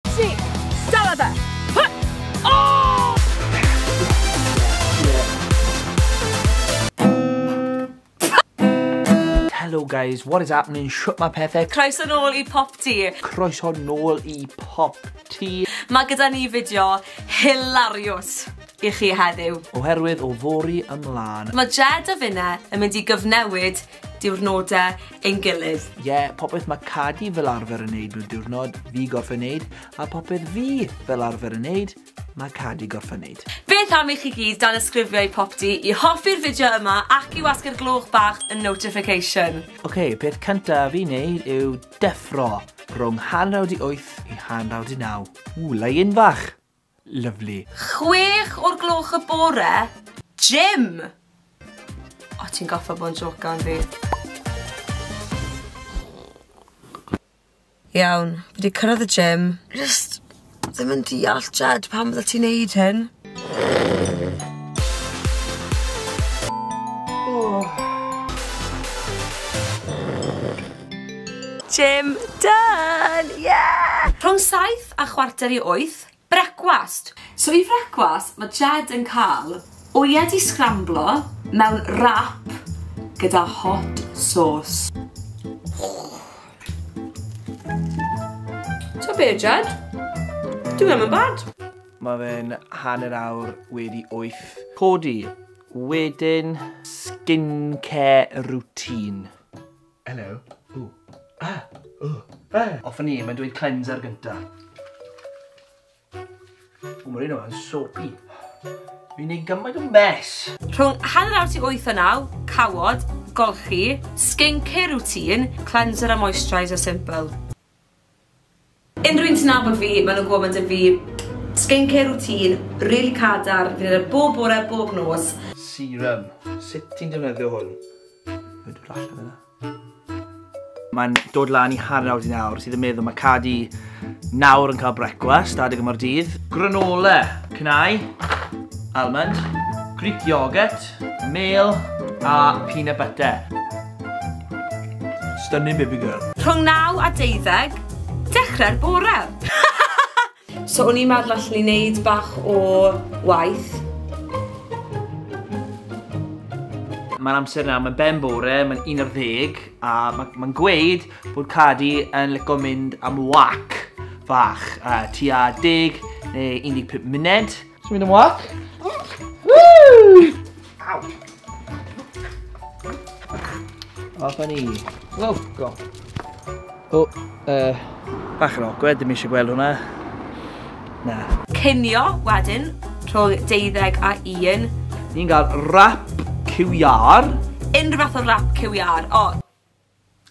Tri! Dala fe! Hy! O! Hello guys, what is happening? Shwt mae pethau? Croeso nôl i Pop Tee. Croeso nôl i Pop Tee. Mae gyda ni fideo hilarious i chi heddiw. Oherwydd o fori ymlaen. Mae Jed a Finne yn mynd i gyfnewid diwrnodau ein gilydd. Ie, yeah, popeth mae Cadi fel arfer yn neud mewn diwrnod, fi gorffen neud, a popeth fi fel arfer yn neud, mae Cadi gorffen neud. Beth am i chi gyd dan ysgrifio i popty i hoffi'r fideo yma ac i wasgu'r gloch bach yn notification. Oce, okay, peth cyntaf fi neud yw deffro rhwng hanraw di 8 i hanraw di 9. Ww, lai un fach! Lyfli. Chwech o'r gloch y bore? Gym! O, ti'n goffa bod yn jocan yn fi. Iawn, fi wedi cyrraedd y gym. Just ddim yn deall, Jed, pam fydde ti'n neud hyn? Gym done! Yeah! Rhwng saith a chwarter i wyth, brecwast! So i frecwast mae Jed yn cael wyau di sgramblo mewn wrap gyda hot sauce. Ta be Jed? Dyw e ddim yn bad. Mae fe'n hanner awr wedi wyth. Codi, wedyn skincare routine. Hello. Ooh. Ah! Ooh. Ah! Off a ni, mae'n dweud cleanser gynta. O, mae'r un o'n soapy. Fi'n neud gymaint o mes. Rhwng hanner awr ti 8 o 9, cawod, golchi, skincare routine, cleanser a moisturiser simple. Unrhyw un sy'n nabod fi, maen nhw'n gwybod ma' 'da fi skincare routine rili cadarn, fi'n neud e bob bore, bob nos. Serum. Sut ti'n defnyddio hwn? Mae'n dod allan yna. Mae'n dod lan i hanner awr di nawr, sydd yn meddwl mae Cadi nawr yn cael brecwast adeg yma'r dydd. Granola, cnau, almond, Greek yoghurt, mêl a peanut butter. Stunning baby girl. Rhwng 9 a 12, dechrau'r bore. so o'n i'n meddwl allan i wneud bach o waith. Mae'n amser nawr, mae'n ben bore, mae'n un o'r ddeg, a mae'n ma gweud bod Cadi yn licio mynd am wac fach, uh, tua deg neu 15 munud. Ti'n mynd yn wac? Woo! Aw! Off a ni. Wow, go. O, uh... Bach yn awkward, ddim eisiau gweld hwnna. Na. Cynio, wedyn, rhwng deuddeg a un. Ni'n gael rap QR. Unrhyw fath o rap QR. O,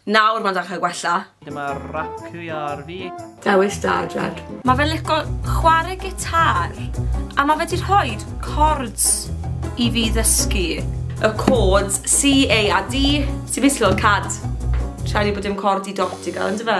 Nawr ma'n dechre gwella. Dyma racu ar fi. Dewis da Jed. Ma fe'n lico chware gitar a ma fe di rhoid cords i fi ddysgu. Y cords C, A a D. Ti byth 'di clywed cad? Siarad i bod dim cord di dot i gael yndyfe?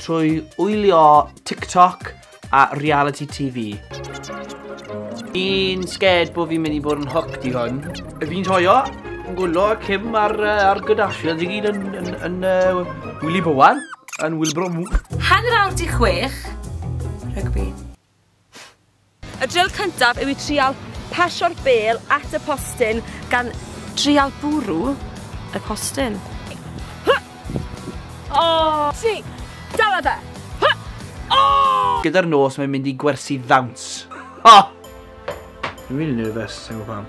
Trwy wylio TikTok a reality TV. Fi'n scared bod fi'n mynd i bod yn hooked i hwn. Fi'n joio yn gwylio Kim ar, uh, ar Kardashian. Dwi gyd yn, yn, yn uh, Willy Bowen, yn Wilbro Mwch. Hanner awr di chwech, rygbi. Y drill cyntaf yw i trial pasio'r bêl at y postyn gan trial bwrw y postyn. Hy! O! Si! Dala fe! Hy! O! Gyda'r nos mae'n mynd i gwersi ddawns. Ha! Fi'n rili nervous, sai'n gwbo pam.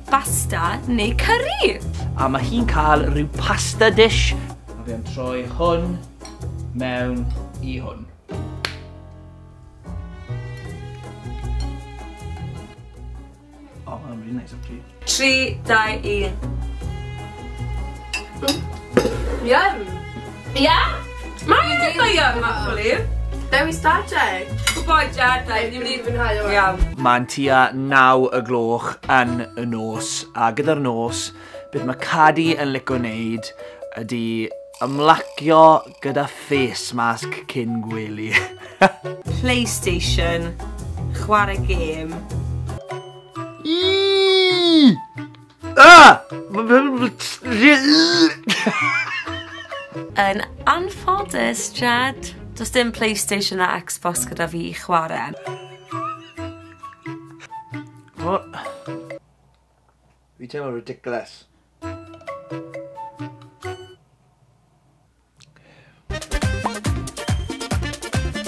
basta neu cyrri. A mae hi'n cael rhyw pasta dish. A fi am troi hwn mewn i hwn. O, mae'n really nice actually. 3, 2, 1. Yum! Ia? Mae e'n eitha iach actually. Dewi Stadeg. Good boy Jad, da ni wedi mwynhau o. Iawn. Mae'n tua naw y gloch yn y nos, a gyda'r nos, beth mae Cadi yn lico wneud ydy ymlacio gyda face mask cyn gwely. PlayStation, chwarae gêm. Iiii! Ah! Yn anffodus, Jed, does dim PlayStation a Xbox gyda fi i chwarae. O! Fi'n teimlo ridiculous.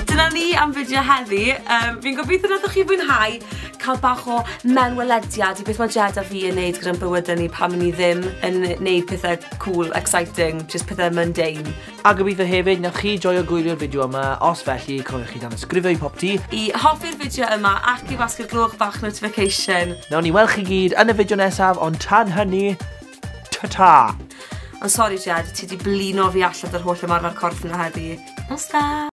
Dyna ni am fideo heddi. Um, fi'n gobeithio nad ydych chi'n fwynhau cael bach o mewnwelediad i beth mae Jed a fi yn neud gyda'n bywydau ni pan ni ddim yn neud pethau cool, exciting, just pethau mundane. A gobeithio hefyd na chi joio gwylio'r fideo yma, os felly cofiwch chi dan ysgrifio i pop ti. I hoffi'r fideo yma ac i wasgu'r gloch bach notification. Nawn ni weld chi gyd yn y fideo nesaf, ond tan hynny, Ta-ta! Ond sori Jed, ti 'di blino fi allan 'da'r holl ymarfer corff 'na heddi. Nos da!